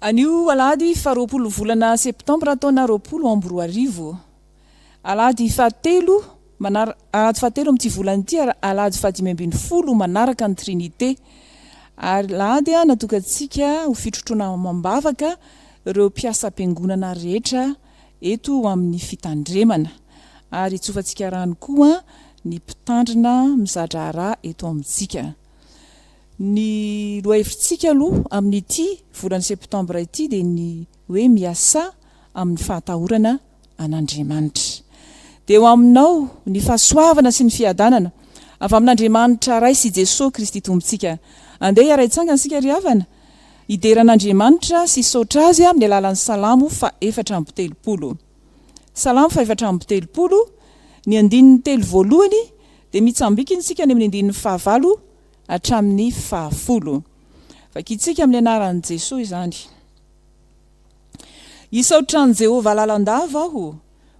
Anio alahady faha roapolo volana septambra taona roapolo amby roa arivo, alahady fahatelo manar alahady fahatelo amin'ity volana ity ary alahady fahadimy ambin'ny folo manaraka ny Trinite. Alahady natokantsika ho fitrotroana amam-bavaka ireo mpiasam-piangonana rehetra eto amin'ny fitandremana ary hitsofantsika rano koa ny mpitandrina mizadraharaha eto amintsika. Ny lohahevitsika aloha amin'ity volana septambra ity dia ny hoe miasà amin'ny fahatahorana an'Andriamanitra. Dia eo aminao ny fahasoavana sy ny fiadanana avy amin'Andriamanitra Ray sy Jesoa Kristy Tompontsika. Andeha hiara-hitsangana isika ry havana hidera an'Andriamanitra sy hisaotra Azy amin'ny alalan'ny Salamo fahefatra amby telopolo. Salamo fahefatra amby telopolo, ny andininy telo voalohany, Dia mitsambikina isika any amin'ny andininy fahavalo hatramin'ny fahafolo. Vakintsika amin'ny anaran'i Jesoa izany. Hisaotra an'i Jehovah lalandava aho,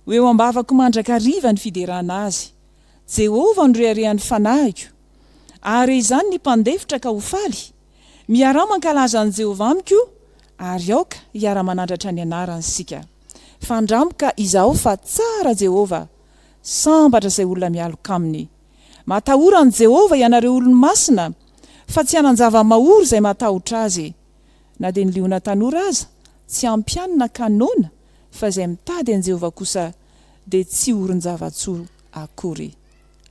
ho eo am-bavako mandrakariva ny fiderana azy. Jehovah no reharehan'ny fanahiko. Ahare izany ny mpandefitra ka ho faly. Miaraha mankalaza an'i Jehovah amiko, ary aoka hiara-manandratra ny anarany isika. Fandramiko ka izaho fa tsara Jehovah. Sambatra izay olona mialoka aminy. Matahora an'i Jehovah ianareo olony masina, fa tsy hanan-java-mahory izay matahotra azy. Na dia ny liona tanora aza, tsy ampianina ka noana, fa izay mitady an'i Jehovah kosa dia tsy horon-java-tsoa akory.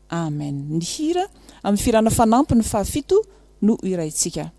Amen. Ny hira amin'ny firana fanampiny fahafito no ho hiraintsika.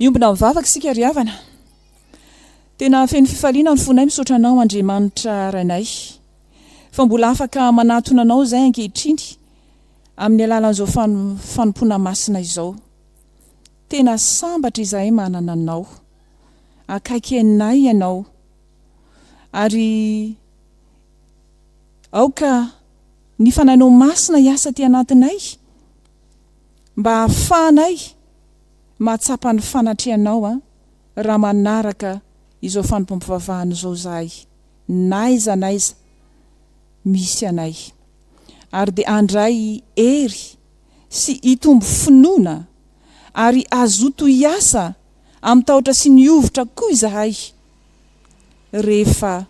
Hiombona mivavaka isika ry havana. Tena feno fifaliana ny fonay misaotra Anao Andriamanitra Rainay fa mbola afaka manatona Anao izahay ankehitriny amin'ny alalan'izao fanompoana masina izao. Tena sambatra izahay manana Anao. Akaiky anay Ianao ary Aoka ny Fanahinao Masina hiasa aty anatinay mba hahafahanay mahatsapa ny fanatrehanao raha manaraka izao fanompoam-pivavahana izao izahay n'aiza n'aiza misy anay ary dia handray hery sy hitombo finoana ary hazoto hiasa amin'ny tahotra sy ny hovitra koa izahay rehefa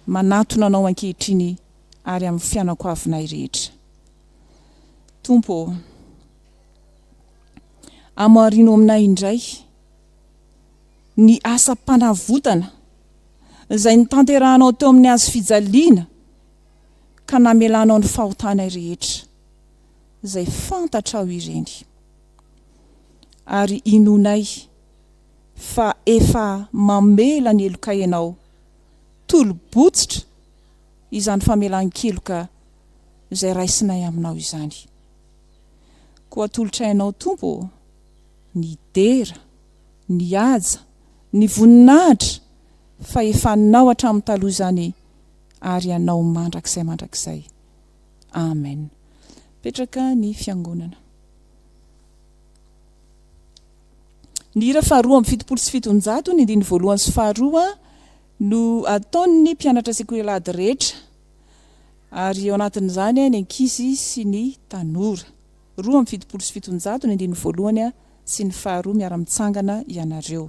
manatona Anao ankehitriny ary amin'ny fianankoavinay rehetra. Tompo ô, amorino aminay indray ny asam-panavotana izay notanterahanao teo amin'ny Hazo fijaliana ka namelanao ny fahotanay rehetra, izay fantatrao ireny. Ary inoanay fa efa mamela ny heloka Ianao, tolo-botsitra izany famelan-keloka izay raisinay aminao izany. Koa atolotra Ainao, Tompo ô, ny dera, ny haja, ny voninahitra, fa efa Anao hatramin'ny taloha izany ary Anao mandrakizay mandrakizay. Amen. Mipetraka ny Fiangonana. Ny hira faharoa amby fitopolo sy fitonjato, ny andininy voalohany sy faharoa no ataon'ny mpianatra sekoialady rehetra, ary ao anatin'izany ny ankizy sy ny tanora. Roa amby fitopolo sy fitonjato, ny andininy voalohany sy ny faharoa, miara-mitsangana ianareo.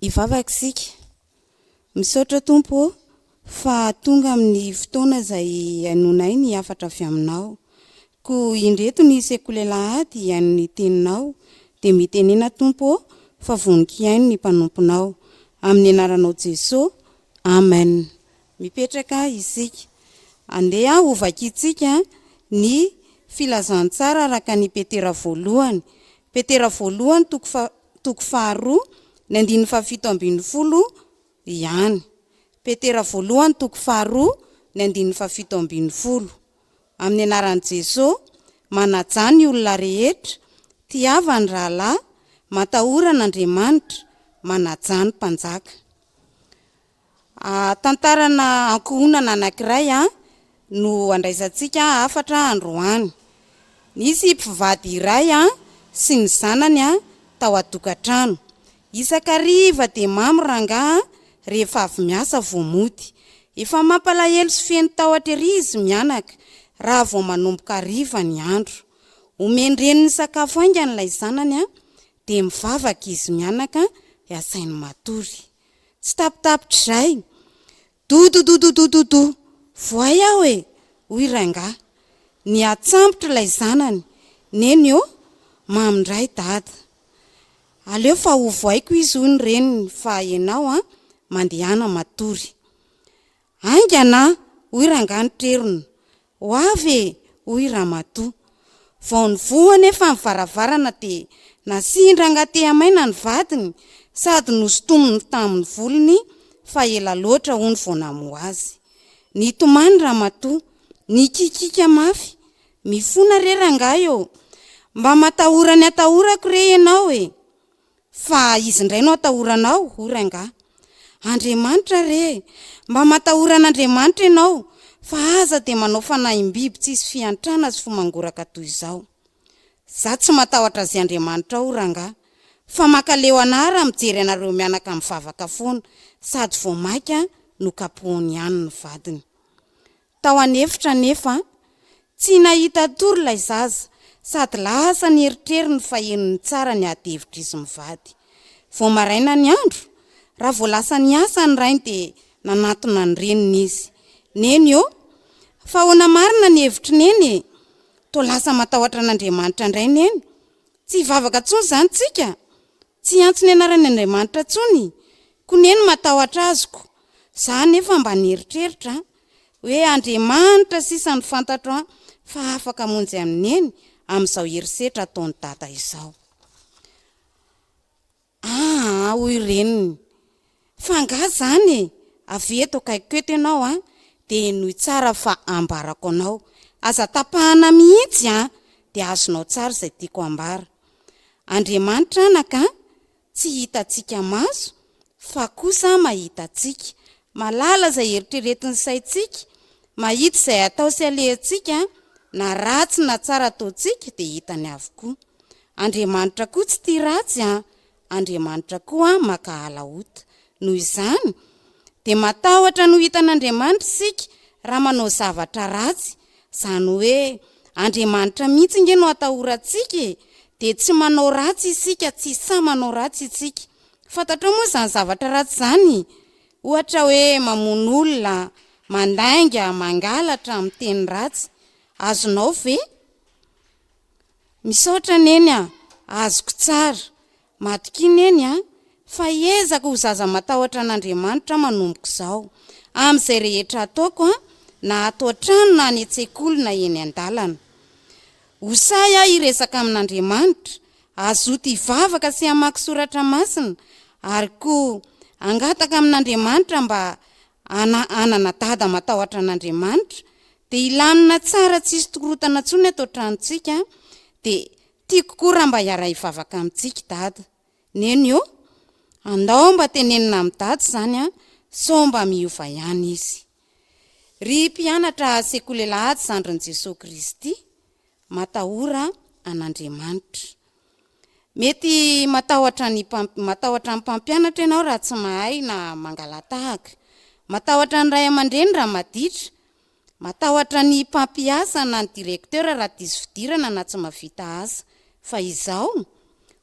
hivavaka isika. Misaotra Tompo ô fa tonga amin'ny fotoana izay hainoanay ny hafatra avy aminao. Koa indreto ny sekoly alahady hihaino teninao dia mitenena Tompo ô fa vonon-kihaino ny mpanomponao. Amin'ny anaranao Jeso, Amen. Mipetraka isika. Andeha ho vakintsika ny filazantsara araka an'i Petera voalohany. Petera voalohany toko toko faharoa, ny andininy fahafito ambin'ny folo ihany. Petera voalohany toko faharoa, ny andininy fahafito ambin'ny folo. Amin'ny anaran'i Jeso, manajà ny olona rehetra, tiava ny rahalahy, matahora an'Andriamanitra, manajà ny mpanjaka. Hahatantarana ankohonana anankiray no andraisantsika hafatra androany. Nisy mpivady iray sy ny zanany tao an-tokantrano. Isan-kariva dia mamy rangahy rehefa avy miasa vao mody. Efa mampalahelo sy feno tahotra ery izy mianaka raha vao manomboka hariva ny andro. Omen-dreniny sakafo haingana ilay zanany dia mivavaka izy mianaka dia asainy matory. Tsy tapitapitr'izay, Dododododododo! Voay aho e! hoy rangahy. Nihatsambotra ilay zanany, Neny ô, mamy indray dada. Aleo fa hovoaiko izy hoy ny reniny fa ianao an, mandehana matory. Haingana an! hoy rangahy nitrerona. Ho avy e! hoy ramatoa. Vao nivoha anefa ny varavarana dia nasian-drangahy tehamaina ny vadiny sady nosintominy tamin'ny volony fa ela loatra hono vao namoha azy. Nitomany ramatoa. Nikikiaka mafy. Mifona re rangahy ô! Mba matahora ny atahorako re ianao e! Fa izy indray no atahoranao hoy rangahy. Andriamanitra re! Mba matahora an'Andriamanitra ianao fa aza dia manao fanahim-biby tsisy fiantrana sy fo mangoraka toy izao. Za tsy matahotra azy Andriamanitra ao rangahy fa makaleo anah raha mijery anareo mianaka mivavaka foana sady vao maika nokapohiny ihany ny vadiny. Tao an'efitra anefa, tsy nahita tory ilay zaza sady lasa ny eritreriny fa henony tsara ny ady hevitr'izy mivady. Vao maraina ny andro, raha vao lasa niasa ny rainy dia nanatona ny reniny izy. Neny ô! Fa ahoana marina ny hevitry Neny e? Toa lasa matahotra an'Andriamanitra indray Neny? Tsy hivavaka intsony izany tsika? Tsy hiantso ny anaran'i Andriamanitra intsony kone ny matahotra azy ko za anefa mba nieritreritra oe Andriamanitra sisa no fantatro fa afaka amonjy an'i Neny amin'izao herisetra ataon'i Dada izao aa hoy reniny Fa angaha zany e! Avia eto akaikiko eto ianao an! Dia henoy tsara fa ambarako anao. Aza tapahana mihitsy an! Dia azonao tsara izay tiako ambara. Andriamanitra anaka an! Tsy hitantsika maso, fa kosa mahita antsika. Mahalala izay eritreretin'ny saintsika, mahita izay atao sy alehantsika, na ratsy na tsara ataontsika dia hitany avokoa. Andriamanitra koa tsy tia ratsy an! Andriamanitra koa mankahala ota. Noho izany, dia matahotra ny ho hitan'Andriamanitra isika raha manao zavatra ratsy. Izany hoe, Andriamanitra mihitsy ange no atahorantsika e! Dia tsy manao ratsy isika, tsy sahy manao ratsy isika. Fantatrao moa izany zavatra ratsy izany? Ohatra hoe mamono olona, mandainga, mangalatra, miteny ratsy. Azonao ve Misaotra Neny a! Azoko tsara. Matokia Neny a! Fahaizako ho zaza matahotra an'Andriamanitra manomboka izao. Amin'izay rehetra ataoko a! Na ato an-trano na any an-tsekoly na eny an-dalana. Ho sahy aho hiresaka amin'Andriamanitra, hazoto hivavaka sy hamaky soratra masina ary koa hangataka amin'Andriamanitra mba Ana anana dada matahotra an'Andriamanitra de hilamina tsara tsisy tkorotana tsony ato tranontsika de tiko koa raha mba hiara hivavaka amintsika dada neny ô andao mba tenenina am dada zany a sao mba miova ihany izy ry mpianatra sekoly lahatsy zandrin'i Jesoa Kristy matahora an'Andriamanitra. Mety matahotra ny matahotra ny mpampianatra ianao raha tsy mahay na mangala-tahaka. Matahotra ny ray aman-dreny raha maditra. Matahotra ny mpampiasa na ny directeur raha diso fidirana na tsy mahavita asa. Fa izao?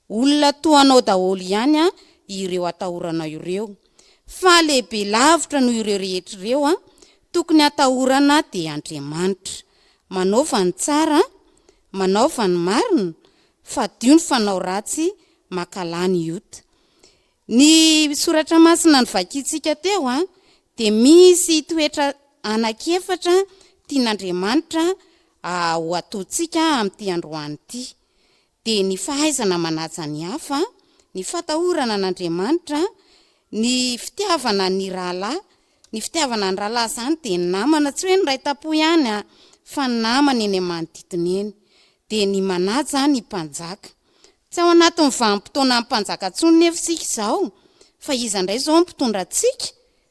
Olona toa anao daholo ihany ireo atahoranao ireo. Fa lehibe lavitra noho ireo rehetra ireo tokony hatahorana dia Andriamanitra. Manaova ny tsara, manaova ny marina, fadio ny fanao ratsy, makala ny iot. Ny soratra masina novakintsika teo dia misy toetra anankiefatra tian'Andriamanitra ho ataontsika amin'ity androany ity. dia ny fahaizana manaja ny hafa, ny fatahorana an'Andriamanitra, ny fitiavana ny rahalahy, ny fitiavana ny rahalahy izany dia ny namana, tsy hoe ny ray tampo ihany an, fa ny namana eny amin'ny manodidina eny, dia ny manaja ny mpanjaka. Tsy ao anatin'ny vanim-potoanan'ny mpanjaka intsony nefa isika izao, fa iza indray izao no mpitondra antsika?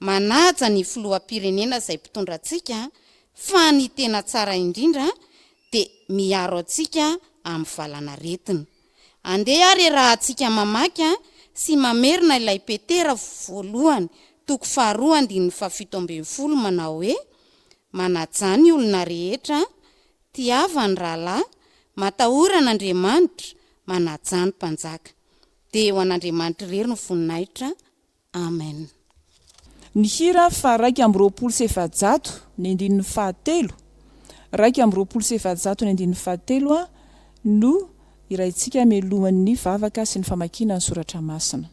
Manaja ny filoham-pirenena izay mpitondra antsika fa ny tena tsara indrindra dia miaro antsika amin'ny valanaretina. Andeha ary e rahatsika mamaky sy mamerina ilay Petera voalohany toko faharoa andininy fahafito ambin'ny folo manao hoe, Manajà ny olona rehetra, tiava ny rahalahy, matahora an'Andriamanitra, manajà ny mpanjaka. Dia ho an'Andriamanitra irery ny voninahitra. Amen. Ny hira faha raika amby roapolo sy efajato ny andininy faha telo, raika amby roapolo sy efajato ny andininy faha telo a, no hiraintsika mialohan' ny vavaka sy ny famakiana ny soratra masina.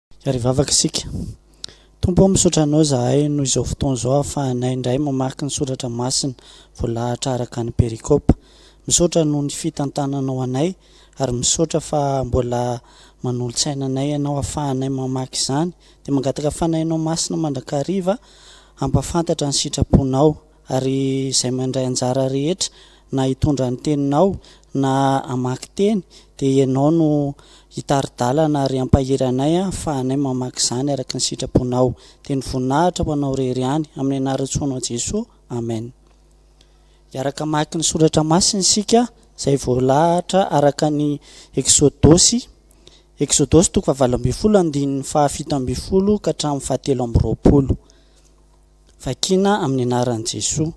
Ary vavaka isika. Tompo ô misaotra Anao izahay noho izao fotoana izao ahafahanay indray mamaky ny soratra masina voalahatra araka ny perikopa. Misaotra noho ny fitantananao anay ary misaotra fa mbola manolo-tsaina anay Ianao ahafahanay mamaky izany dia mangataka fanahinao masina mandrakariva hampafantatra ny sitraponao ary izay mandray anjara rehetra na hitondra ny teninao na hamaky teny dia ianao no hitari-dalana ary hampahery anay fa anay mamaky izany araka ny sitraponao dia ny voninahitra ho anao rery ihany amin'ny anaran-tsoanao Jesoa Amen hiaraka hamaky ny soratra masina isika izay voalahatra araka ny eksodosy eksodosy toko fahavalo ambin'ny folo andininy fahafito ambin'ny folo ka hatramin'ny fahatelo amby roapolo. Vakina amin'ny anaran'i Jesoa.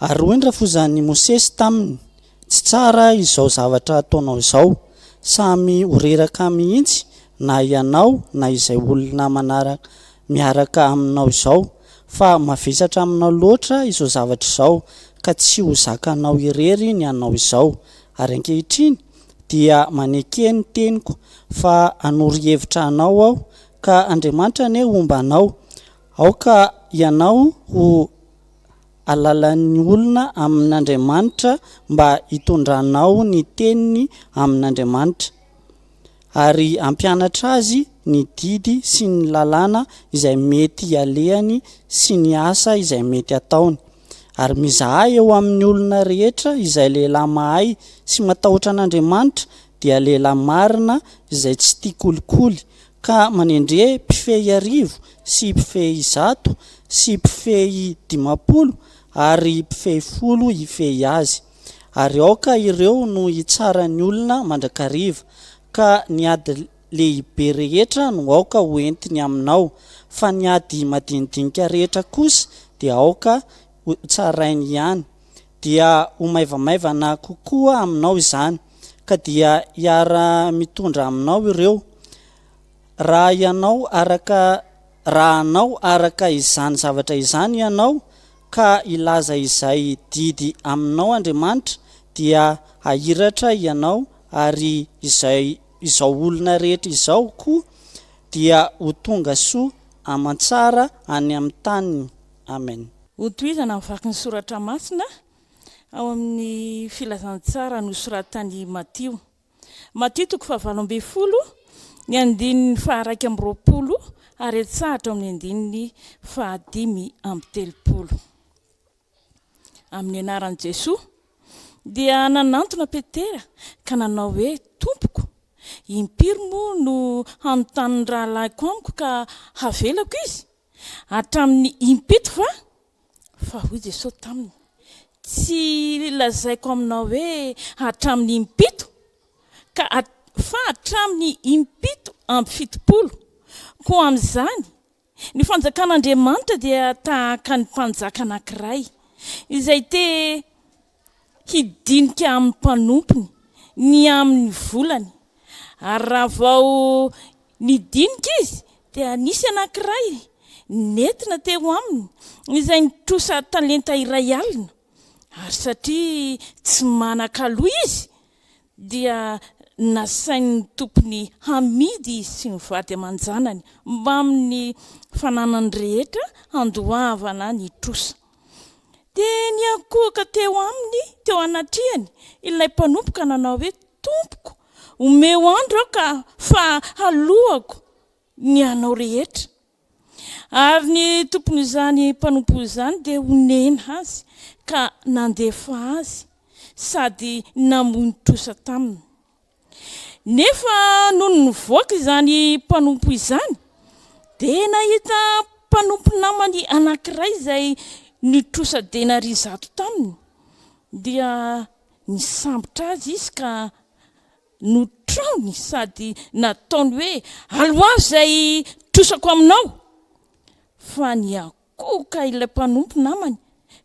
Ary hoy ny rafozan'i Mosesy taminy, Tsy tsara izao zavatra ataonao izao, samy ho reraka mihitsy na ianao na izay olona manaraka miaraka aminao izao, fa mavesatra aminao loatra izao zavatra izao, ka tsy ho zakanao irery ny anao izao. Ary ankehitriny dia maneke ny teniko, fa hanoro hevitra anao aho Ka Andriamanitra anie homba anao. Aoka ianao ho alalan'ny olona amin'Andriamanitra mba hitondranao ny teniny amin'Andriamanitra, ary hampianatra azy ny didy sy ny lalàna izay mety hialehany sy ny asa izay mety hataony. Ary mizaha eo amin'ny olona rehetra izay lehilahy mahay sy matahotra an'Andriamanitra dia lehilahy marina izay tsy tia kolikoly ka manendre mpifehy arivo sy mpifehy zato sy mpifehy dimampolo ary mpifehy folo hifehy azy. Ary aoka ireo no hitsara ny olona mandrakariva. Ka ny ady lehibe rehetra no aoka ho entiny aminao, fa ny ady madinidinika rehetra kosa dia aoka ho tsarainy ihany. Dia ho maivamaivana kokoa aminao izany, ka dia hiara-mitondra aminao ireo, raha ianao araka, raha hanao araka izany zavatra izany ianao, ka hilaza izay didy aminao Andriamanitra, dia hahiratra ianao, ary izay Izao olona rehetra izao koa dia ho tonga soa aman-tsara any amin'ny taniny. Amena. Hotohizana ny vakin'ny soratra masina ao amin'ny filazantsara nosoratan'i Matio. Matio toko fahavalo ambin'ny folo, ny andininy faharaika amby roapolo ary etsahatra ao amin'ny andininy fahadimy amby telopolo. Amin'ny anaran'i Jesoa. Dia nanantona Petera ka nanao hoe, Tompoko, impiry moa no hanontany ny rahalahiko amiko ka havelako izy? Hatramin'ny impito va? Fa hoy Jesoa taminy, Tsy lazaiko aminao hoe, Hatramin'ny impito, ka fa hatramin'ny impito amby fitopolo. Koa amin'izany Ny Fanjakan'Andriamanitra dia tahaka ny mpanjaka anankiray izay te hidinika amin'ny mpanompony ny amin'ny volany, ary raha vao nidinika izy dia nisy anankiray nentina teo aminy izay nitrosa talenta iray alina, ary satria tsy manan-kaloa izy dia nasain'ny tompony hamidy izy sy ny vady aman-janany mbamin'ny fananany rehetra handoavana ny trosa. Dia niankohoka teo aminy, teo anatrehany, ilay mpanompo ka nanao hoe, Tompoko, omeo andro aho ka, fa haloako ny anao rehetra. Ary ny tompon'izany mpanompo izany dia honena azy ka nandefa azy sady namono trosa taminy. Nefa nony nivoaka izany mpanompo izany, dia nahita mpanompo namany anankiray izay nitrosa denaria zato taminy, dia nisambotra azy izy ka no traony sady nataony hoe, Aloavy izay trosako aminao! Fa niankohoka ilay mpanompo namany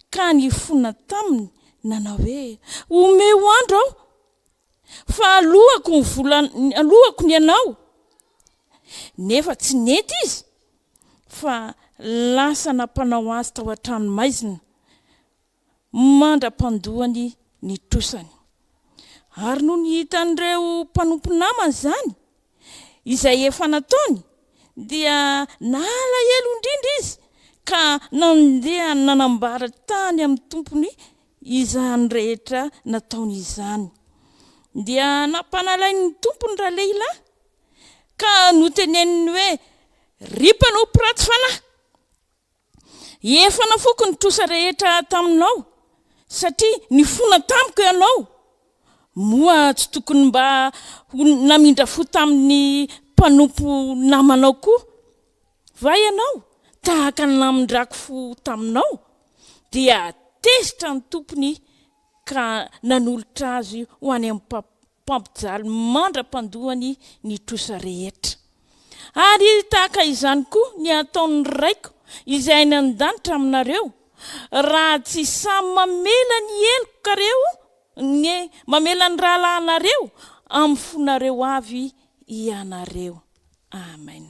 ka nifona taminy, nanao hoe, Omeo andro aho, fa halohako ny vola halohako ny anao. Nefa tsy nety izy, fa lasa nampanao azy tao an-tranomaizina. mandra-pandoany ny trosany. Ary nony hitan'ireo mpanompo namany izany, izay efa nataony, dia nalahelo indrindra izy ka nandeha nanambara tany amin'ny tompony izany rehetra nataony izany. Dia nampanalain'ny tompony ralehilahy ka noteneniny hoe, Ry mpanompo ratsy fanahy! Efa nafoko ny trosa rehetra taminao satria nifona tamiko ianao. Moa tsy tokony mba ho namindra fo tamin'ny mpanompo namanao koa va ianao tahaka ny namindrako fo taminao? Dia tezitra ny tompony ka nanolotra azy ho any amin'ny mpampy. mpampijaly mandra-pandoany ny trosa rehetra. Ary tahaka izany koa ny hataon'ny Raiko izay any an-danitra aminareo, raha tsy samy mamela ny helokareo, ny, mamela ny rahalahinareo amin'ny fonareo avy ianareo. Amen.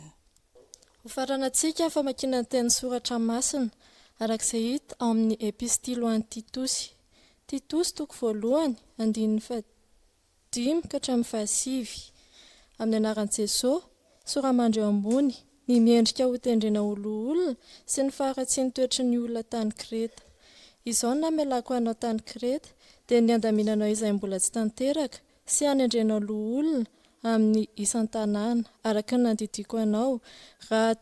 Hofaranantsika famakiana ny teny soratra masina, araka izay hita ao amin'ny Epistily ho an'ny Titosy. Titosy, toko voalohany, andininy faha. dimy ka hatramin'ny fahasivy. Amin'ny anaran'i Jesosy, soramandry eo ambony ny miendrika hotendrena ho loholona sy ny faharatsian'ny toetry ny olona tany Kreta. Izao no namelako anao tany Kreta, dia ny handaminanao izay mbola tsy tanteraka sy hanendrenao loholona amin'ny isan-tanàna, araka ny nandidiako anao, raha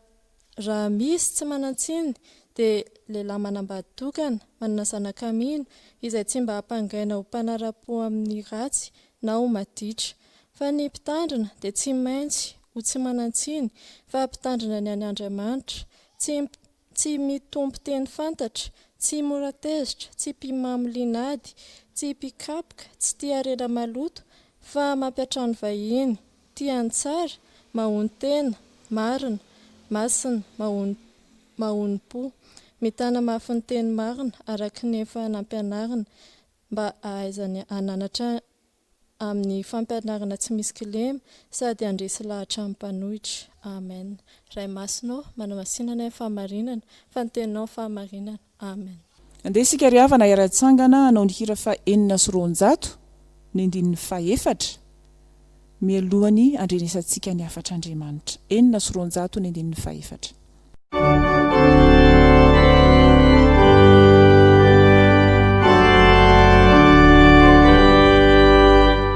Raha misy tsy manan-tsiny, dia lehilahy manambady tokana, manana zanaka mino, izay tsy mba hampangaina ho mpanara-po amin'ny ratsy na ho maditra. Fa ny mpitandrina dia tsy maintsy ho tsy manan-tsiny, fa mpitandrina ny an' Andriamanitra, tsy tsy mitompo teny fantatra, tsy mora tezitra, tsy mpimamo linady, tsy mpikapoka, tsy tia harena maloto, fa mampiantrano vahiny. Tia ny tsara, mahonon-tena, marina, masina, mahono, mahonom-po, mitana mafy ny teny marina araka ny efa nampianarina mba hahaizany hananatra amin'ny fampianarana tsy misy kilema sady handresy lahatra amin'ny mpanohitra. Amen. Ray Masina ô, manamasina anay amin'ny fahamarinana, fa ny Teninao ny fahamarinana. Amen. Andeha isika ry havana hiara-hitsangana hanao ny hira faha enina sy roanjato ny andininy faha efatra mialohan'ny handrenesantsika ny hafatr'Andriamanitra. Enina sy roanjato ny andininy faha efatra.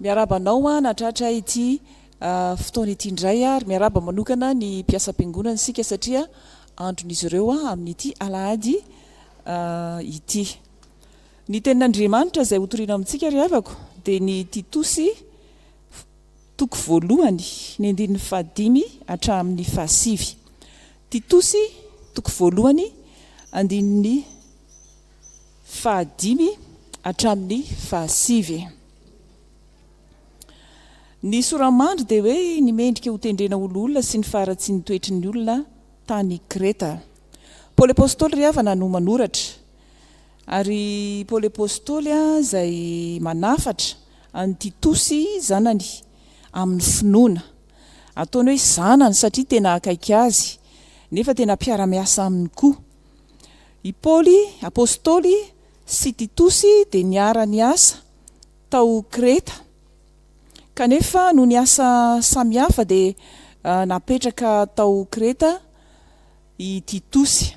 Miarahaba anao an hatratra ity fotoana ity indray ary miarahaba manokana ny mpiasam-piangonana isika satria andron'izy ireo amin'ity alahady ity. Ny tenin'Andriamanitra izay hotorina amintsika ry havako dia ny Titosy toko voalohany ny andininy fahadimy hatramin'ny fahasivy. Titosy toko voalohany andininy fahadimy hatramin'ny fahasivy. Ny sora-mandry dia hoe ny mendrika ho tendrena ho loholona sy ny faharatsian'ny toetry ny olona tany Kreta. Paoly Apostoly ry havana no manoratra. Ary Paoly Apostoly izay manafatra an'i Titosy zanany amin'ny finoana. Ataony hoe zanany satria tena akaiky azy, nefa tena mpiara-miasa aminy koa. I Paoly Apostoly sy Titosy dia niara-niasa tao Kreta, kanefa noho ny asa samihafa dia napetraka tao Kreta i Titosy,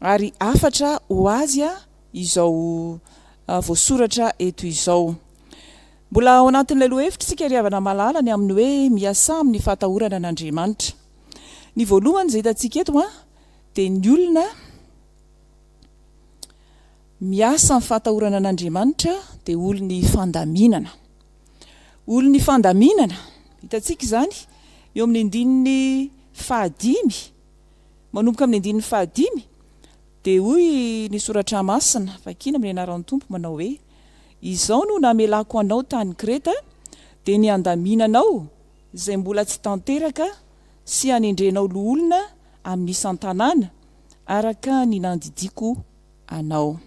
ary hafatra ho azy izao voasoratra eto izao. Mbola ao anatin'ilay lohahevitra isika ry havana malala ny amin'ny hoe miasà amin'ny fahatahorana an'Andriamanitra. Ny voalohany izay hitantsika eto dia ny olona. Miasa amin'ny fahatahorana an'Andriamanitra dia olon'ny fandaminana. Olon'ny fandaminana, hitantsika izany eo amin'ny andininy fahadimy, manomboka amin'ny andininy fahadimy, dia hoy ny soratra masina, vakina amin'ny anaran'ny Tompo, manao hoe, Izao no namelako anao tany Kreta, dia ny handaminanao izay mbola tsy tanteraka sy hanendrenao loholona amin'ny isan-tanàna, araka ny nandidiako anao.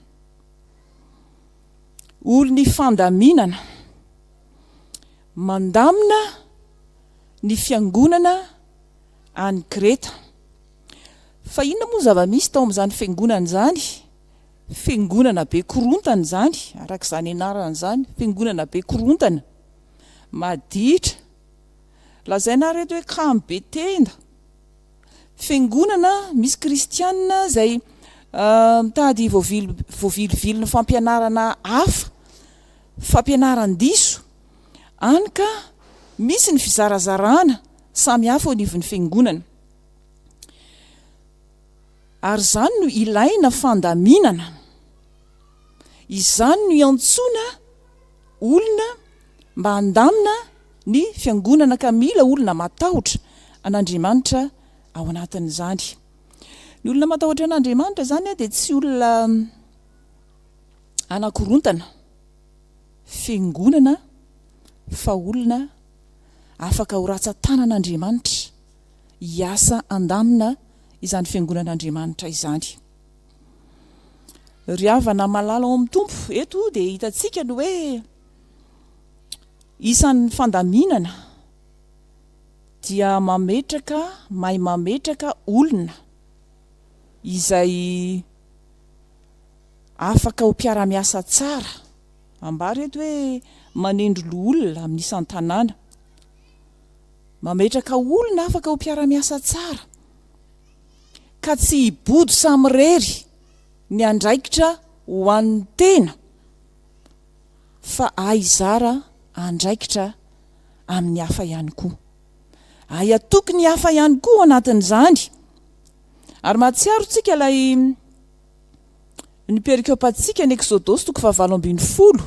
Olon'ny fandaminana, mandamina ny fiangonana any Kreta. Fa inona moa ny zava-misy tao amin'izany fiangonana izany? Fiangonana be korontana izany, araka izany anarany izany, fiangonana be korontana, maditra, lazainareo eto hoe kamo be tenda. Fiangonana misy kristianina izay mitady voavilivily ny fampianarana hafa, fampianaran-diso, any ka misy ny fizarazarana samy hafa eo anivon'ny Fiangonana. Ary izany no ilaina fandaminana. Izany no iantsoana olona mba handamina. ny fiangonana ka mila olona matahotra an'Andriamanitra ao anatin'izany. Ny olona matahotra an'Andriamanitra izany dia tsy olona hanakorontana fiangonana fa olona afaka ho ratsan-tanan'Andriamanitra hiasa handamina izany fiangonan'Andriamanitra izany. Ry havana malala ao amin'ny Tompo, eto dia hitantsika ny hoe Isan'ny fandaminana dia mametraka mahay mametraka olona izay afaka ho mpiara-miasa tsara, ambara eto hoe manendry loholona amin'ny isan-tanàna, mametraka olona afaka ho mpiara-miasa tsara ka tsy hibodo samirery ny andraikitra ho an'ny tena. fa hay hizara andraikitra amin'ny hafa ihany koa. Hay hatoky ny hafa ihany koa ao anatin'izany. Ary mahatsiaro tsika ilay ny perikopantsika ny Eksodosy toko fahavalo ambin'ny folo,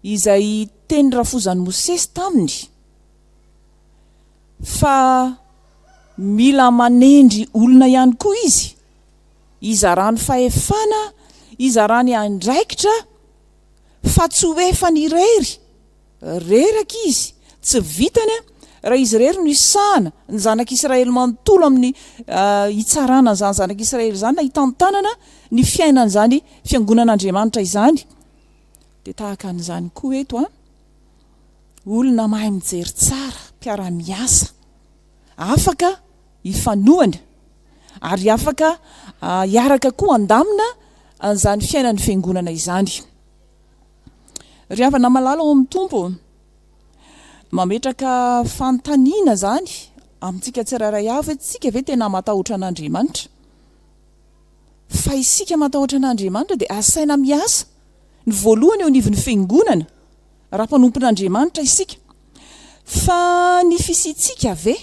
izay teny rafozan'i Mosesy taminy, fa mila manendry olona ihany koa izy, izarany fahefana, izarany andraikitra fa tsy ho efany irery, reraka izy, tsy vitany raha izy irery no hisahana ny zanak'i Israely manontolo amin'ny hitsarana an'izany zanak'i Israely izany na hitantanana ny fiainan'izany fiangonan'Andriamanitra izany dia tahaka an'izany koa eto an olona mahay mijery tsara, mpiara-miasa, afaka ifanohana ary afaka hiaraka koa handamina an'izany fiainan'ny Fiangonana izany. Ry havana malala ao amin'ny Tompo, mametraka fanontaniana izany amintsika tsirairay avy hoe isika ve tena matahotra an'Andriamanitra? Fa isika matahotra an'Andriamanitra dia asaina miasa ny voalohany eo anivon'ny Fiangonana raha mpanompon'Andriamanitra isika. Fa ny fisiantsika ve?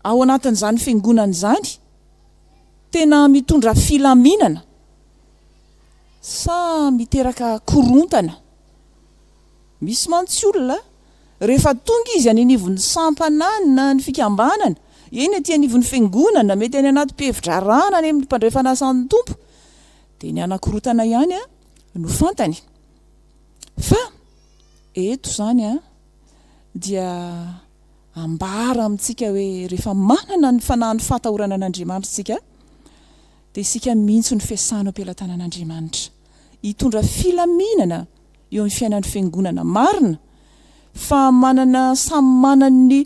ao anatin'izany fiangonana izany? Tena mitondra filaminana sa miteraka korontana? Misy mantsy olona rehefa tonga izy any anivon'ny sampanana ny fikambanana, eny aty anivon'ny fiangonana, mety any anaty mpihevi-drarahana any amin'ny mpandray fanasan'ny Tompo, dia ny hanakorontana ihany no fantany. Fa eto izany dia ambara amintsika hoe rehefa manana ny fanahin'ny fahatahorana an'Andriamanitra isika dia isika mihitsy no fiasana eo am-pelatanan'Andriamanitra hitondra filaminana eo amin'ny fiainan'ny fiangonana. Marina fa manana samy manana ny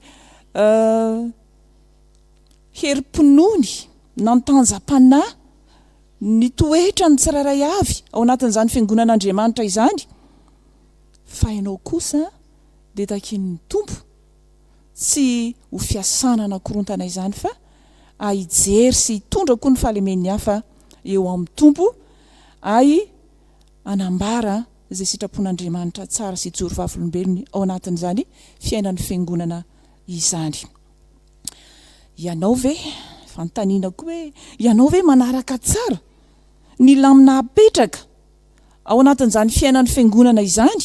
herim-pinoany, nantanjam-panahy, ny toetra ny tsirairay avy ao anatin'izany fiangonan'Andriamanitra izany fa ianao kosa dia takian'ny Tompo tsy ho fiasana hanakorontana izany fa a hijery sy hitondra koa ny fahalemen'ny hafa eo amin'ny Tompo ay hanambara izay sitrapon'Andriamanitra tsara sy hijoro vavolombelony ao anatin'izany fiainan'ny fiangonana izany. Ianao ve, fanontaniana koa hoe, ianao ve manaraka tsara ny lamina apetraka ao anatin'izany fiainan'ny fiangonana izany?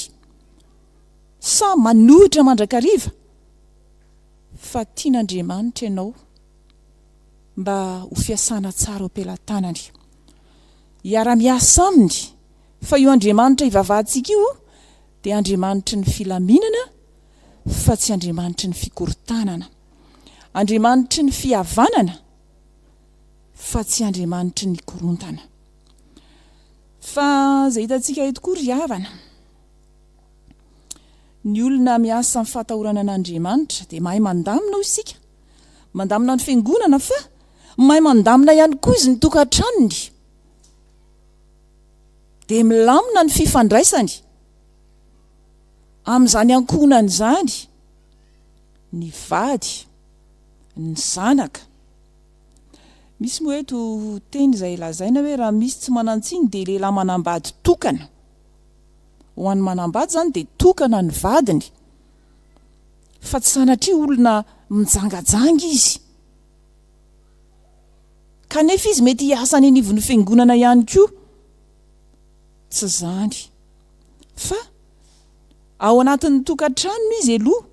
Sa manohitra mandrakariva fa tian'Andriamanitra ianao mba ho fiasana tsara ao am-pelatanany. Hiara-miasa aminy fa io Andriamanitra ivavahantsika io dia Andriamanitry ny filaminana fa tsy Andriamanitry ny fikorontanana. Andriamanitry ny fihavanana fa tsy Andriamanitry ny korontana. Fa izay hitantsika eto koa ry havana. Ny olona miasa amin'ny fahatahorana an'Andriamanitra dia mahay mandamina hoy isika, mandamina ny fiangonana fa mahay mandamina ihany koa izy ny tokantranony. Dia milamina ny fifandraisany amin'izany ankohonany izany ny vady, ny zanaka. Misy moa eto teny izay lazaina hoe raha misy tsy manan-tsiny dia lehilahy manambady tokana. ho an'ny manambady izany dia tokana ny vadiny fa tsy sanatria olona mijangajanga izy kanefa izy mety hiasa any anivon'ny fiangonana ihany koa tsy izany fa ao anatin'ny tokantranony izy eloha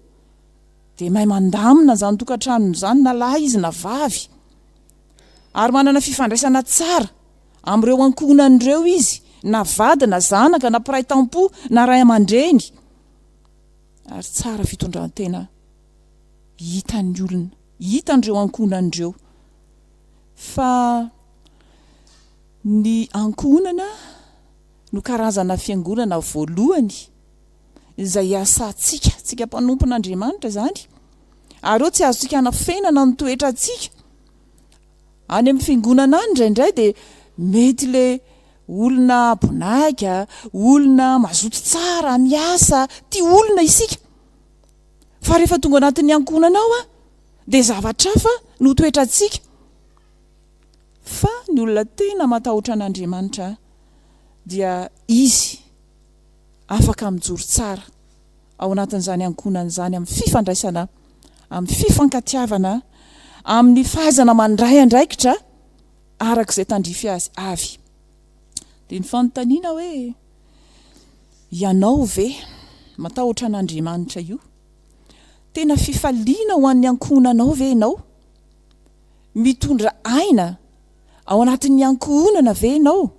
dia mahay mandamina izany tokantranony izany na lahy izy na vavy ary manana fifandraisana tsara Amin'ireo ankohonany ireo izy, na vady na zanaka na mpiray tampo na ray aman-dreny. Ary tsara fitondran-tena hitan'ny olona, hitan'ireo ankohonany ireo, fa ny ankohonana no karazana fiangonana voalohany izay iasantsika, tsika mpanompon'Andriamanitra izany, ary eo tsy azontsika anafenana ny toetrantsika, Any amin'ny fiangonana any indraindray dia mety ilay olona bonaika, olona mazoto tsara, miasa, tia olona isika. Fa rehefa tonga ao anatin'ny ankohonana ao dia zavatra hafa no toetrantsika. Fa ny olona tena matahotra an'Andriamanitra dia izy afaka mijoro tsara. ao anatin'izany ankohonana izany amin'ny fifandraisana, amin'ny fifankatiavana, amin'ny fahaizana mandray andraikitra araka izay tandrify azy avy. Dia ny fanontaniana hoe, ianao ve matahotra an'Andriamanitra io? Tena fifaliana ho an'ny ankohonanao ve ianao? Mitondra aina ao anatin'ny ankohonana ve ianao?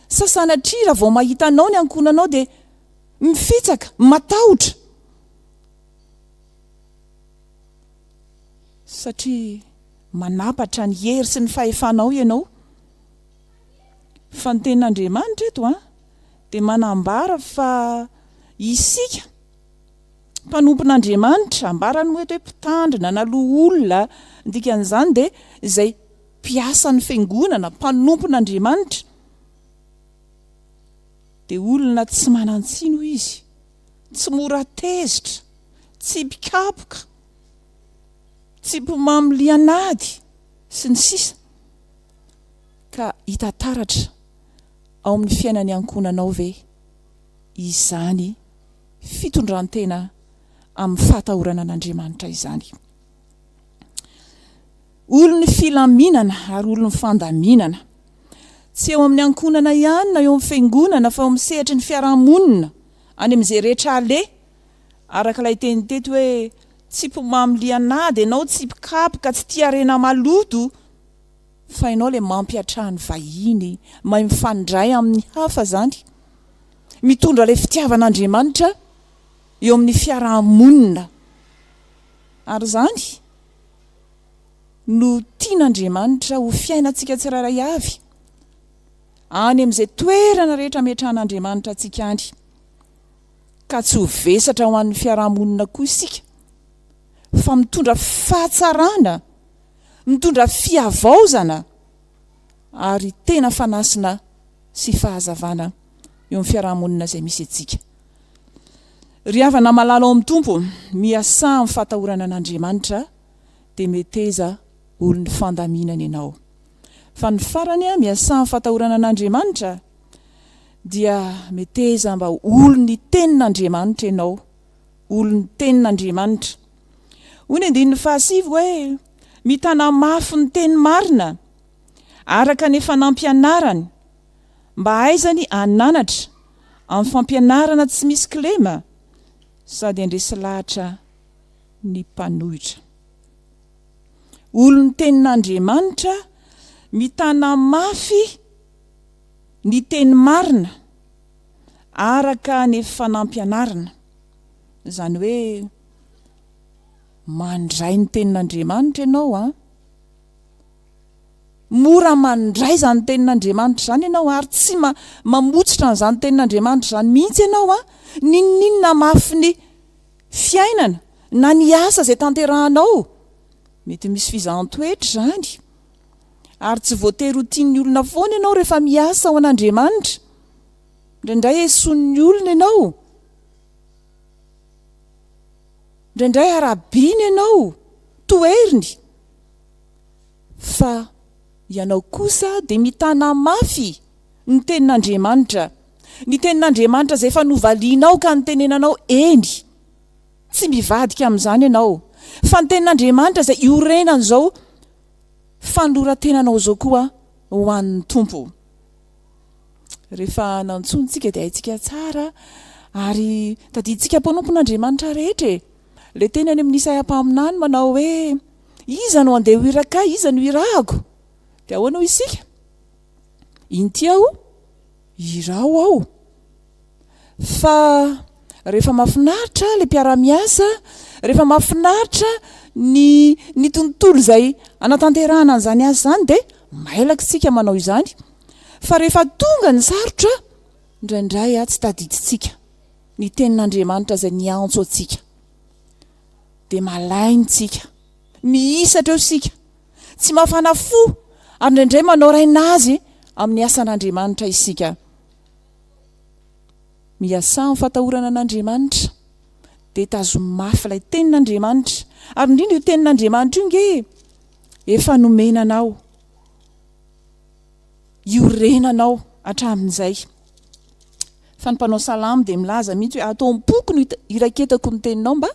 Sa sanatria raha vao mahita anao ny ankohonanao dia mifitsaka, matahotra. Satria manampatra ny hery sy ny fahefanao ianao. Fa ny Tenin'Andriamanitra eto dia manambara fa isika mpanompon'Andriamanitra, ambarany moa eto hoe mpitandrina na loholona, ny dikan'izany dia izay mpiasan'ny Fiangonana, mpanompon'Andriamanitra. Dia olona tsy manan-tsino izy, tsy mora tezitra, tsy mpikapoka, tsy mpimamo lian'ady, sy ny sisa Ka hita taratra ao amin'ny fiainan'ny ankohonanao ve izany fitondran-tena amin'ny fahatahorana an'Andriamanitra izany? Olon'ny filaminana ary olon'ny fandaminana. Tsy eo amin'ny ankohonana ihany na eo amin'ny fiangonana fa eo amin'ny sehatry ny fiaraha-monina, any amin'izay rehetra aleha. Araka ilay teny teto hoe tsy mpimamy lian'ady ianao, tsy mpikapoka, tsy tia harena maloto, fa ianao ilay mampiatraha ny vahiny, mahay mifandray amin'ny hafa izany. Mitondra ilay fitiavan'Andriamanitra eo amin'ny fiaraha-monina ary izany. no tian'Andriamanitra ho fiainantsika tsirairay avy, any amin'izay toerana rehetra ametrahan'Andriamanitra antsika any, ka tsy ho vesatra ho an'ny fiaraha-monina koa isika, fa mitondra fahatsarana, mitondra fihavaozana ary tena fanasina sy fahazavana eo amin'ny fiaraha-monina izay misy antsika. Ry havana malala ao amin'ny Tompo, miasà amin'ny fahatahorana an'Andriamanitra, dia meteza olon'ny fandaminana ianao. Fa ny farany, miasà amin'ny fahatahorana an'Andriamanitra, dia meteza mba ho olon'ny Tenin'Andriamanitra ianao, olon'ny Tenin'Andriamanitra. Hoy ny andininy fahasivy hoe, Mitana mafy ny teny marina, araka ny efa nampianarany, Mba hahaizany hananatra amin'ny fampianarana tsy misy kilema sady handresy lahatra ny mpanohitra. Olon'ny Tenin'Andriamanitra mitana mafy ny teny marina araka ny efa nampianarina, izany hoe mandray ny Tenin'Andriamanitra ianao an! Mora mandray izany tenin'Andriamanitra izany ianao ary tsy mamotsitra an'izany tenin'Andriamanitra izany mihitsy ianao an! N'inon'inona mafy ny fiainana na ny asa izay tanterahanao, mety misy fizahan-toetra izany, ary tsy voatery ho tian'ny olona foana ianao rehefa miasa ho an'Andriamanitra. Indraindray esoin'ny olona ianao, indraindray arabiany ianao, toheriny. Fa ianao kosa dia mitana mafy ny Tenin'Andriamanitra, ny Tenin'Andriamanitra izay efa novalianao ka nitenenanao, eny, tsy mivadika amin'izany ianao, fa ny Tenin'Andriamanitra izay iorenan'izao fanoloran-tenanao izao koa ho an'ny Tompo. Rehefa nantsoiny isika dia haintsika tsara, ary tadidintsika mpanompon'Andriamanitra rehetra e! Ilay teny any amin'ny Isaia mpaminany manao hoe. Iza no handeha ho iraka ahy? Iza no hirahako? Dia ahoana hoy isika? Inty aho, iraho aho. Fa rehefa mahafinaritra ilay mpiara-miasa, rehefa mahafinaritra ny, ny tontolo izay hanatanterahana an'izany asa izany, dia mailaka isika manao izany. Fa rehefa tonga ny sarotra, indraindray tsy tadidintsika ny Tenin'Andriamanitra izay niantso antsika. dia malainy tsika. Mihisatra eo isika. Tsy mafana fo ary indraindray manao raina azy amin'ny asan'Andriamanitra isika. Miasà amin'ny fatahorana an'Andriamanitra dia tazomy mafy ilay tenin'Andriamanitra ary indrindra io tenin'Andriamanitra io nge efa nomena anao iorenanao hatramin'izay. Fa ny mpanao salamo dia milaza mihitsy hoe, Ato am-poko no iraketako ny teninao, mba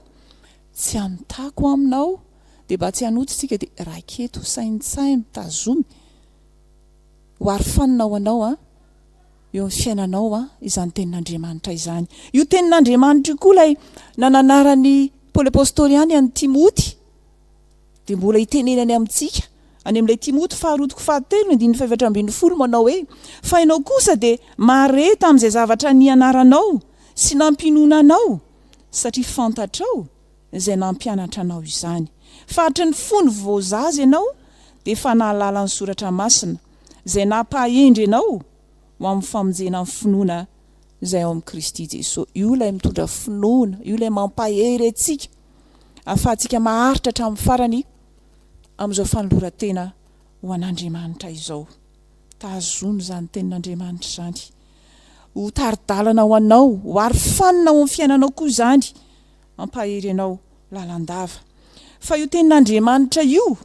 tsy hanotako aminao, dia mba tsy hanoto isika, dia raketo, saintsaino, tazomy, ho arofanina ho anao eo amin'ny fiainanao izany tenin'Andriamanitra izany. Io tenin'Andriamanitra io koa ilay nananaran'i Paoly Apostoly ihany an'i Timoty. Dia mbola itenenany amintsika, any amin'ilay Timoty faharoa toko fahatelo ny andininy fahefatra ambin'ny folo, manao hoe, Fa ianao kosa dia mahare tamin'izay zavatra nianaranao sy nampiononanao, satria fantatrao izay nampianatra anao izany, fa hatry ny fony vao zaza ianao dia efa nahalala ny Soratra Masina, izay nampahendry anao ho amin'ny famonjena ny finoana izay ao amin'i Kristy Jesosy. Io ilay mitondra finoana, io ilay mampahery antsika. ahafahantsika maharitra hatramin'ny farany amin'izao fanoloran-tena ho an'Andriamanitra izao. Tazono izany Tenin'Andriamanitra izany ho tari-dalana ho anao, ho aro fanina ao amin'ny fiainanao koa izany, hampahery anao lalandava. Fa io Tenin'Andriamanitra io,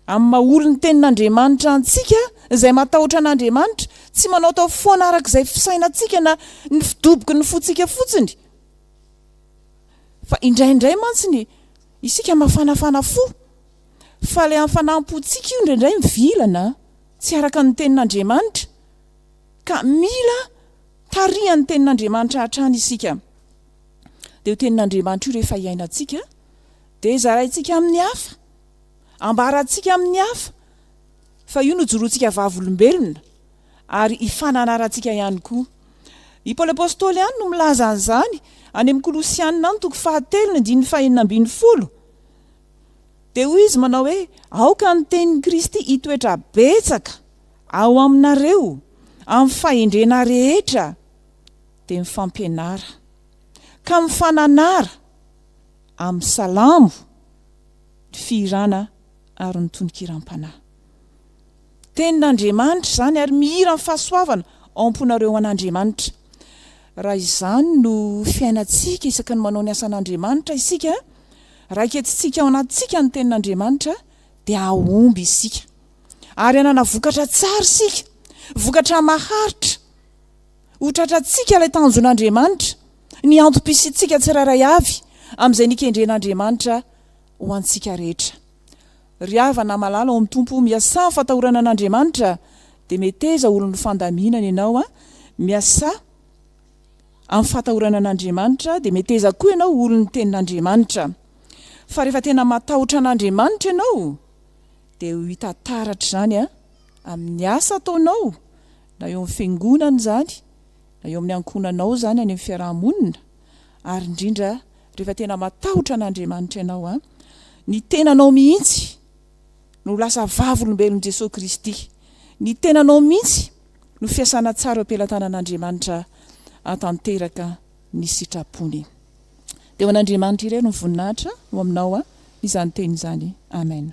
amin'ny maha olon'ny Tenin'Andriamanitra antsika, izay matahotra an'Andriamanitra, tsy manaotao foana araka izay fisainantsika na ny fidoboky ny fontsika fotsiny, Fa indraindray mantsy ny. Isika mafanafana fo. Fa ilay hafanam-pontsika io indraindray mivilana, tsy araka ny Tenin'Andriamanitra. Ka mila tarihan'ny Tenin'Andriamanitra hatrany isika. Dia io Tenin'Andriamanitra io rehefa iainantsika, dia zaraintsika amin'ny hafa. Ambarantsika amin'ny hafa. Fa io no jorontsika vavolombelona ary ifananarantsika ihany koa. I Paoly Apostoly ihany no milaza an'izany any amin'ny Kolosiana any toko fahatelo ny andininy fahenina ambin'ny folo. Dia hoy izy manao hoe, Aoka ny tenin'i Kristy hitoetra betsaka ao aminareo amin'ny fahendrena rehetra, dia mifampianara ka mifananara amin'ny salamo, ny fihirana ary ny tononkiram-panahy. Tenin'Andriamanitra izany ary mihira ny fahasoavana ao am-ponareo ho an'Andriamanitra. Raha izany no fiainantsika isaky ny manao ny asan'Andriamanitra isika, raha eketsitsika ao anatintsika ny tenin'Andriamanitra, dia hahomby isika ary hanana vokatra tsara isika, vokatra maharitra. Ho tratrantsika ilay tanjon'Andriamanitra, ny antom-pisiantsika tsirairay avy amin'izay nikendren'Andriamanitra ho antsika rehetra. Ry havana malala ao amin'ny Tompo, miasà amin'ny fatahorana an'Andriamanitra, dia meteza olon'ny fandaminana ianao an, miasà amin'ny fatahorana an'Andriamanitra, dia meteza koa ianao ho olon'ny Tenin'Andriamanitra. Fa rehefa tena matahotra an'Andriamanitra ianao, dia ho hita taratra izany an, amin'ny asa ataonao, na eo amin'ny fiangonana izany, na eo amin'ny ankohonanao izany any amin'ny fiaraha-monina, ary indrindra rehefa tena matahotra an'Andriamanitra ianao an, ny tenanao mihitsy no lasa vavolombelon'i Jesoa Kristy, ny tenanao mihitsy no fiasana tsara eo am-pelatanan'Andriamanitra hahatanteraka ny sitrapony. Dia ho an'Andriamanitra irery ny voninahitra ho aminao izany teny izany. Amen.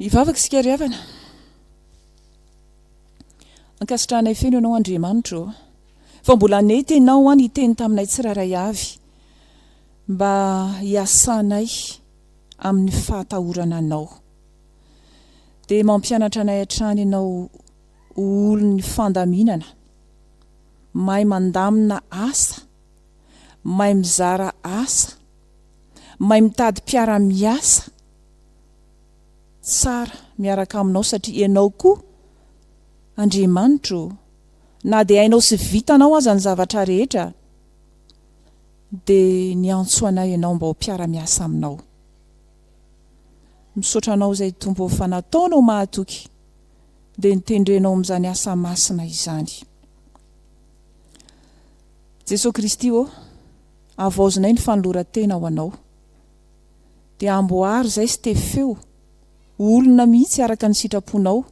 Hivavaka isika ry havana. Ankasitrahanay feno Ianao Andriamanitra ô. Fa mbola nety Ianao ho'a niteny taminay tsirairay avy mba hiasanay amin'ny fahatahorana Anao. Dia mampianatra anay hatrany Ianao ho olon'ny fandaminana, mahay mandamina asa, mahay mizara asa, mahay mitady mpiara-miasa tsara miaraka aminao satria ianao koa Andriamanitra ô, na dia hainao sy vitanao aza ny zavatra rehetra dia niantso anay ianao mba ho mpiara-miasa aminao. Misaotra anao izay Tompo ô fa nataonao mahatoky dia nitendrenao amin'izany asa masina izany. Jesoa Kristy ô, havaozinay ny fanoloran-tena ho Anao. Dia amboary izay sy tefeo ho olona mihitsy araka ny sitraponao.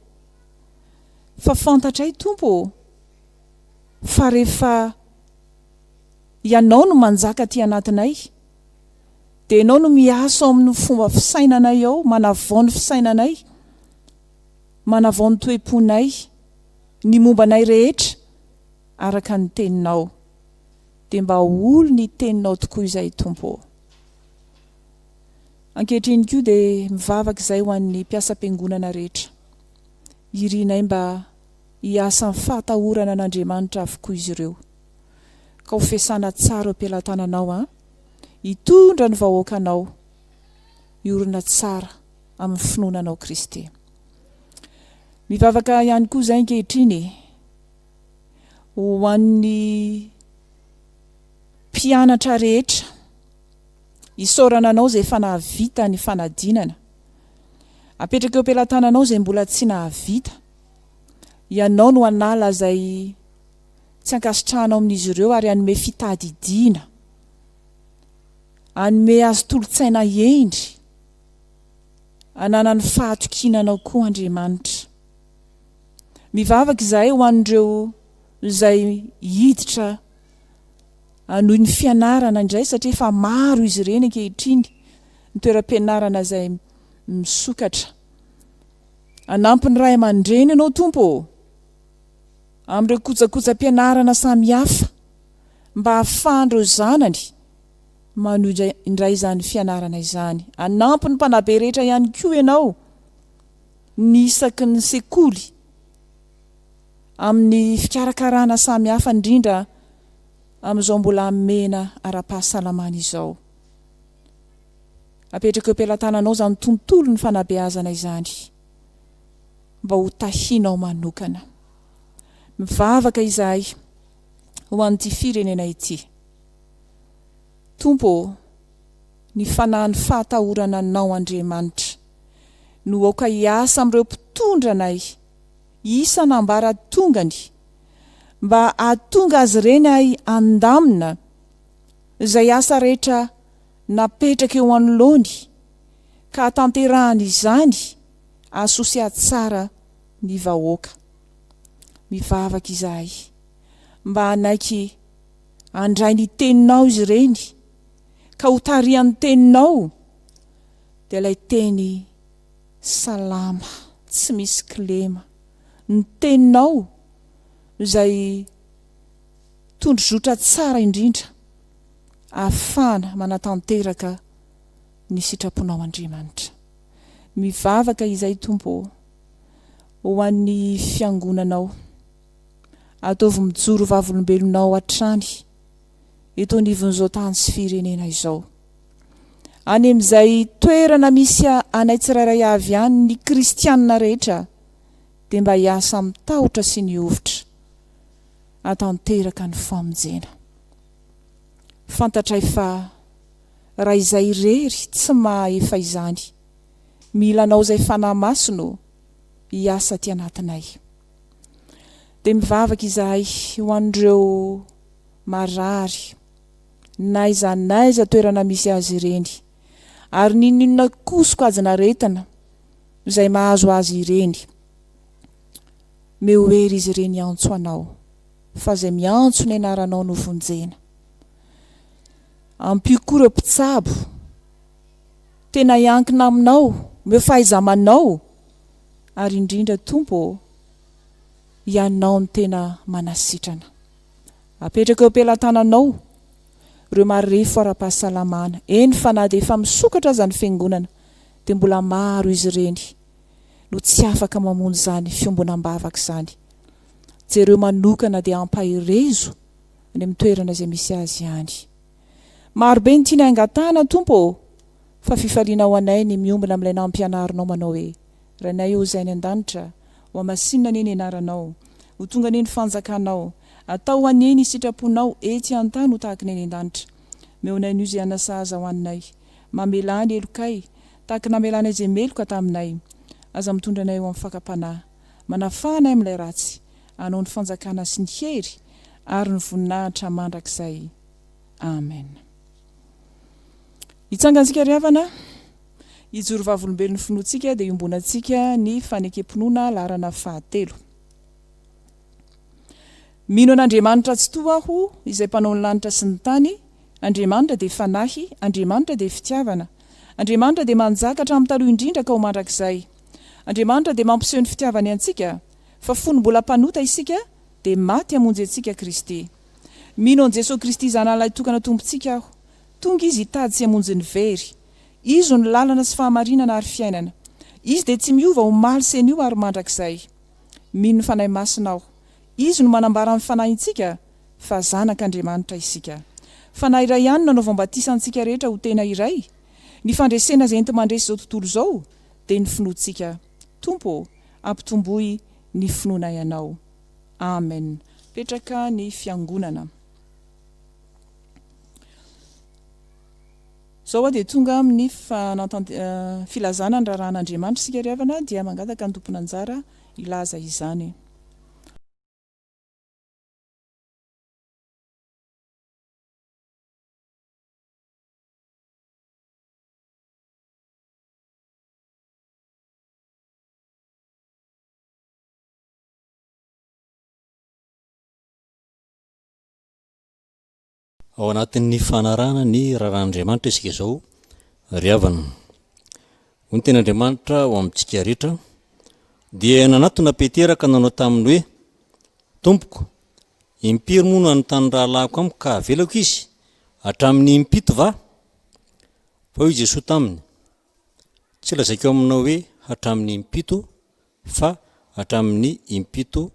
Fa fantatray, Tompo ô, fa rehefa Ianao no manjaka aty anatinay, dia Ianao no miasa ao amin'ny fomba fisainanay ao, manavao ny fisainanay, manavao ny toe-ponay, ny momba anay rehetra. araka ny teninao dia mba ho olo ny teninao tokoa izay Tompo ô. Ankehitriny koa dia mivavaka izay ho an'ny mpiasam-piangonana rehetra. Irinay mba hiasa amin'ny fahatahorana an'Andriamanitra avokoa izy ireo. Ka ho fiasana tsara eo am-pelatananao an! Hitondra ny vahoakanao hiorina tsara amin'ny finoana anao Kristy. Mivavaka ihany koa izay ankehitriny e! ho an'ny mpianatra rehetra. Isaorana anao izay efa nahavita ny fanadinana. Apetraka eo am-pelatananao izay mbola tsy nahavita. Ianao no hanala izay tsy ankasitrahanao amin'izy ireo ary hanome fitadidiana. Hanome azy tolo-tsaina hendry hananany fahatokiana anao koa Andriamanitra. Mivavaka izahay ho an'ireo izay hiditra hanohy ny fianarana indray satria efa maro izy ireny ankehitriny ny toeram-pianarana izay misokatra. Hanampy ny ray aman-dreny Ianao Tompo ô! amin'ireo kojakojam-pianarana samihafa mba hahafahan'ireo zanany manohy indray izany fianarana izany. Hanampy ny mpanabe rehetra ihany koa Ianao. ny isaky ny sekoly amin'ny fikarakarana samy hafa indrindra amin'izao mbola hamena ara-pahasalamana izao. Apetraka eo am-pelatananao izany tontolon'ny fanabeazana izany mba ho tahinao manokana. Mivavaka izahay ho an'ity firenena ity. Tompo ô, ny fanahy ny fahatahorana Anao Andriamanitra. no aoka hiasa amin'ireo mpitondra anay isan'ambaratongany mba hahatonga azy ireny ahy handamina izay asa rehetra napetraka eo anoloany ka hahatanterahany izany asosia tsara ny vahoaka. Mivavaka izahay mba hanaiky handray ny teninao izy ireny. ka ho tarihan'ny teninao dia ilay teny salama tsy misy kilema, ny teninao no izay tondrozotra tsara indrindra ahafahana manatanteraka ny sitraponao Andriamanitra. Mivavaka izay Tompo ô ho an'ny fiangonanao, ataovy mijoro vavolombelonao hatrany. eto anivon'izao tany sy firenena izao. Any amin'izay toerana misy anay tsirairay avy any ny kristianina rehetra dia mba hiasa amin'ny tahotra sy ny hovitra hatanteraka ny famonjena. Fantatray fa raha izay irery tsy mahaefa izany, mila anao izay fanahy masina o, hiasa aty anatinay. Dia mivavaka izahay ho an'ireo marary, n'aiza n'aiza toerana misy azy ireny, ary n'inon'inona koa sokajin'aretina izay mahazo azy ireny. Meo ho ery izy ireny hiantso Anao, fa izay miantso ny Anaranao no vonjena. Ampio koa ireo mpitsabo tena hiankina Aminao, omeo fahaiza-manao. ary indrindra Tompo ô! Ianao no tena manasitrana. Apetrako eo am-pelatananao ireo marefo ara-pahasalamana, eny fa na dia efa misokatra aza ny Fiangonana dia mbola maro izy ireny no tsy afaka mamonjy izany fiombona am-bavaka izany. Jereo manokana dia ampaherezo any amin'ny toerana izay misy azy any. Marobe ny tianay angatahana Tompo ô! Fa fifaliana ho anay ny miombona amin'ilay nampianarinao manao hoe, Rainay ô Izay any an-danitra, ho hamasinina anie ny anaranao, ho tonga anie ny fanjakanao, atao anie ny sitraponao etsy an-tany ho tahaka ny any an-danitra. Meo anay anio izay hanasahaza ho anay. Mamelà ny helokay, tahaka ny namelanay izay meloka taminay. Aza mitondra anay ho amin'ny fakam-panahy. Manafaha anay amin'ilay ratsy. Anao ny fanjakana sy ny hery ary ny voninahitra mandrakizay. Amen. Hitsangantsika ry havana, hijoro vavolombelon'ny finoantsika dia iombonantsika ny fanekem-pinoana laharana fahatelo. Mino an'Andriamanitra Tsitoha aho, izay mpanao ny lanitra sy ny tany, Andriamanitra dia Fanahy, Andriamanitra dia Fitiavana, Andriamanitra dia manjaka hatramin'ny taloha indrindra ka ho mandrakizay. Andriamanitra dia mampiseho ny fitiavany antsika, fa fony mbola mpanota isika dia maty hamonjy antsika Kristy. Mino an'i Jesoa Kristy Zanahalahy tokana Tompontsika aho. Tonga Izy hitady sy hamonjy ny very. Izo no lalana sy fahamarinana ary fiainana. Izy dia tsy miova omaly sy anio ary mandrakizay. Mino ny Fanahy Masina aho. Izy no manambara ny fanahintsika fa zanak'Andriamanitra isika. Fanahy iray ihany no nanaovany batisa antsika rehetra ho tena iray. Ny fandresena izay enti-mandresy izao tontolo izao dia ny finoantsika. Tompo ô, ampitomboy ny finoanay Anao. Amen petraka ny fiangonana. Zao hoa dia tonga amin ny filazana ny raharahan Andriamanitra isika ry havana dia mangataka ny tompon anjara hilaza izany. Ao anatin'ny fanarahana ny raharahàn'Andriamanitra isika izao ry havana. Hoy ny tenin'Andriamanitra ho amintsika rehetra, dia nanatona Petera ka nanao taminy hoe, Tompoko, impiry moa no hanontany ny rahalahiko amiko ka havelako izy? Hatramin'ny impito va? Fa hoy Jesoa taminy, Tsy lazaiko aminao hoe hatramin'ny impito, fa hatramin'ny impito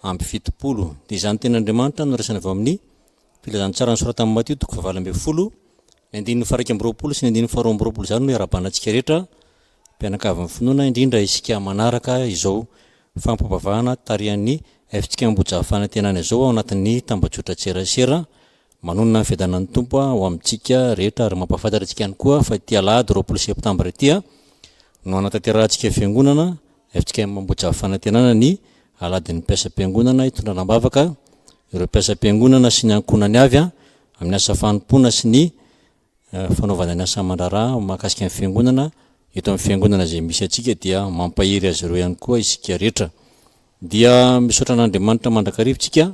amby fitopolo. Dia izany ny tenin'Andriamanitra noraisana avy ao amin'ny Filazantsara nosoratan'i Matio toko fahavalo ambin'ny folo, ny andininy faha-iraika amby roapolo sy ny andininy faharoa amby roapolo izany no iarahabanantsika rehetra, mpianakavin'ny finoana, indrindra isika manaraka izao fampivavahana tarihan'ny Fitsikamboja Fanantenana izao ao anatin'ny tambajotran-tserasera Manonona ny fiadanan'ny Tompo ho amintsika rehetra ary mampahafantatra antsika ihany koa fa ity alahady roapolo septambra ity no hanatanterahantsika Fiangonana FJKM Ambohijahafanantenana ny Aladin'ny Mpiasam-piangonana hitondrana am-bavaka ireo mpiasam-piangonana sy ny ankohonany avy amin'ny asa fanompoana sy ny fanaovana ny asa aman-draharaha mahakasika ny Fiangonana eto amin'ny Fiangonana izay misy antsika dia mampahery azy ireo ihany koa isika rehetra. Dia misaotra an'Andriamanitra mandrakariva isika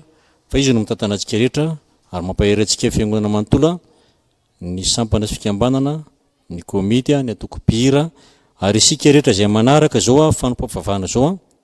fa Izy no mitantana antsika rehetra ary mampahery antsika Fiangonana manontolo, ny sampana sy fikambanana, ny komity, ny antoko mpihira ary isika rehetra izay manaraka izao fanompam-pivavahana izao.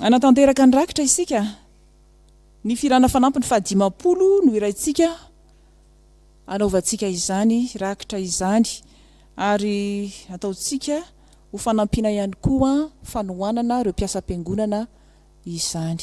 Hanatanteraka ny rakitra isika. Ny filana fanampiny fahadimampolo no iraintsika hanaovantsika izany rakitra izany ary ataontsika ho fanampiana ihany koa fanohanana ireo mpiasam-piangonana izany.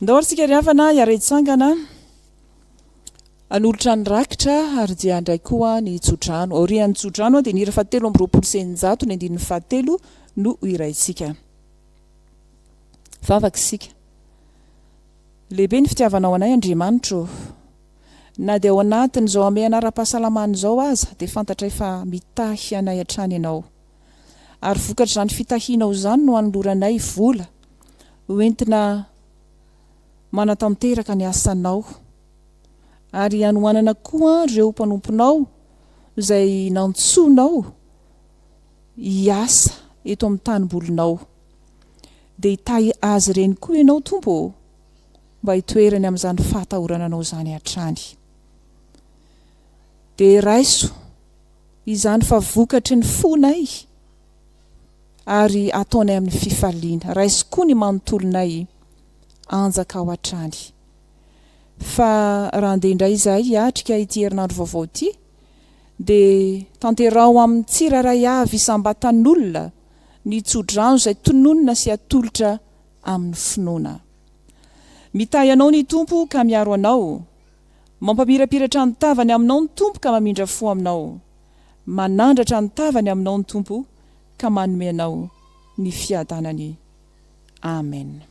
Ndao ary isika ry havana hiara-hitsangana hanolotra ny rakitra ary dia handray koa ny tsodrano. Aorian'ny tsodrano dia ny hira fahatelo amby roapolo sy eninjato ny andininy fahatelo no hohiraintsika. Vavaka isika. Lehibe ny fitiavanao anay Andriamanitra ô. Na dia ao anatin'izao hamehana ara-pahasalamana izao aza dia fantatray fa mitahy anay hatrany ianao. ary vokatr'izany fitahianao izany no anoloranay vola ho entina manatanteraka ny asanao ary hanohanana koa ireo mpanomponao izay nantsoinao hiasa eto amin'ny tanimbolinao. Dia hitahy azy ireny koa ianao Tompo ô, mba hitoerany amin'izany fahatahorananao izany hatrany. Dia raiso izany fa vokatry ny fonay ary ataonay amin'ny fifaliana. Raiso koa ny manontolonay anjakao hatrany. Fa raha handeha indray izahay hiatrika ity herinandro vaovao ity, dia tanteraho amin'ny tsirairay avy isam-batan'olona ny tsodrano izay tononina sy atolotra amin'ny finoana. Mitahy anao ny Tompo ka miaro anao. Mampamirapiratra ny tavany aminao ny Tompo ka mamindra fo aminao. Manandratra ny tavany aminao ny Tompo ka manome anao ny fiadanany. Amen.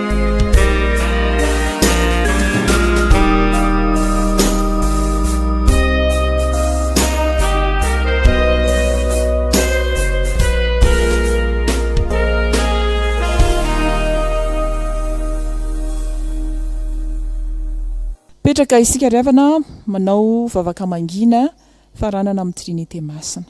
Mipetraka isika ry havana manao vavaka mangina faranana amin'ny Trinite Masina.